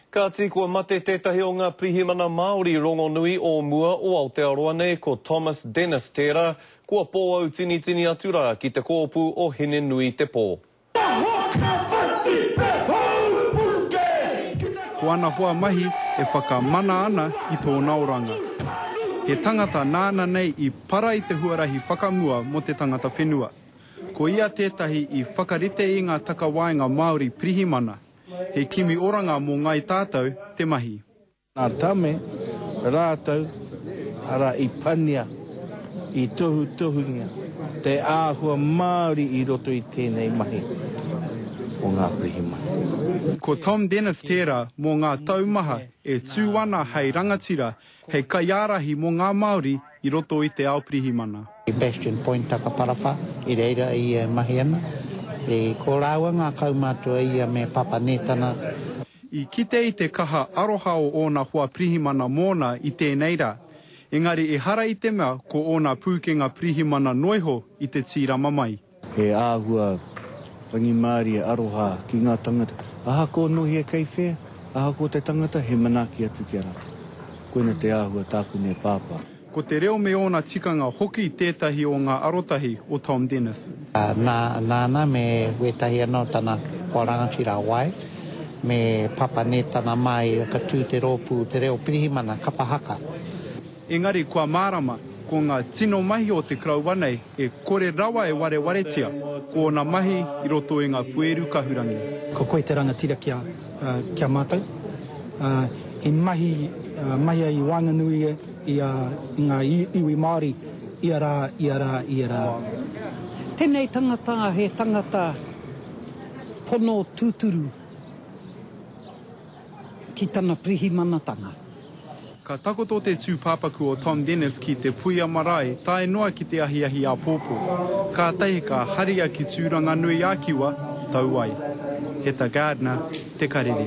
Kāti, kua mate tētahi o ngā pirihimana Māori rongonui o mua o Aotearoa nei, ko Thomas Dennis tērā, kua pōautinitini atu rā ki te kōpū o Hine-nui-te-pō. Ko ana hoa mahi e whakamana ana i tōna oranga. He tangata nāna nei i para i te huarahi whakamua mō te tangata whenua. Ko ia tētahi i whakarite i ngā takawaenga Māori pirihimana, He kimi oranga mō Ngāi Tātou te mahi. Ngā Tame rātou, arā i pania, i tohutohungia te āhua Māori i roto i tēnei mahi o ngā pirihimana. Ko Tom Denniff tērā mō ngā taumaha e tū ana hei rangatira Hei kaiārahi mō ngā Māori i roto i te ao pirihimana. Bastion Point Takaparawha, i reira ia e mahi ana. I ko rāua ngā kaumātua ia me Papa Nētana. I kite i te kaha aroha o ōna hoa pirihimana mōna i tēnei rā, engari ehara i te mea ko ōna pūkenga pirihimana noiho i te tīrama mai. He āhua rangimārie aroha ki ngā tangata. Ahakoa nō hea kei whea, ahakoa te tangata, he manaaki atu ki a rātou. Koina te āhua tāku nei pāpā. Ko te reo me ōna tikanga hoki tētahi o ngā arotahi o Tom Dennis. Nā, nāna me wētahi anō o tana hoa rangatira wai, me Papa Nētana mā i whakatū te rōpū Te Reo Pirihimana kapa haka. Engari kua mārama, ko ngā tino mahi o te koroua nei e kore rawa e warewaretia ko ōna mahi i roto i ngā pueru kahurangi. Ko koe te rangatira ki a, ki a mātou. I mahi, mahi ai i waenganui i a, i ngā iwi Māori ia rā, ia rā, ia rā. Tenei tangata he tangata pono tuturu. ki tana pirihimanatanga. Ka takoto te tūpāpaku o Tom Dennis ki te puia marae tae noa ki te ahiahi āpōpō, kātahi ka haria ki Tūranganui-ā-Kiwa tau ai. Heta Gardner, Te Karere.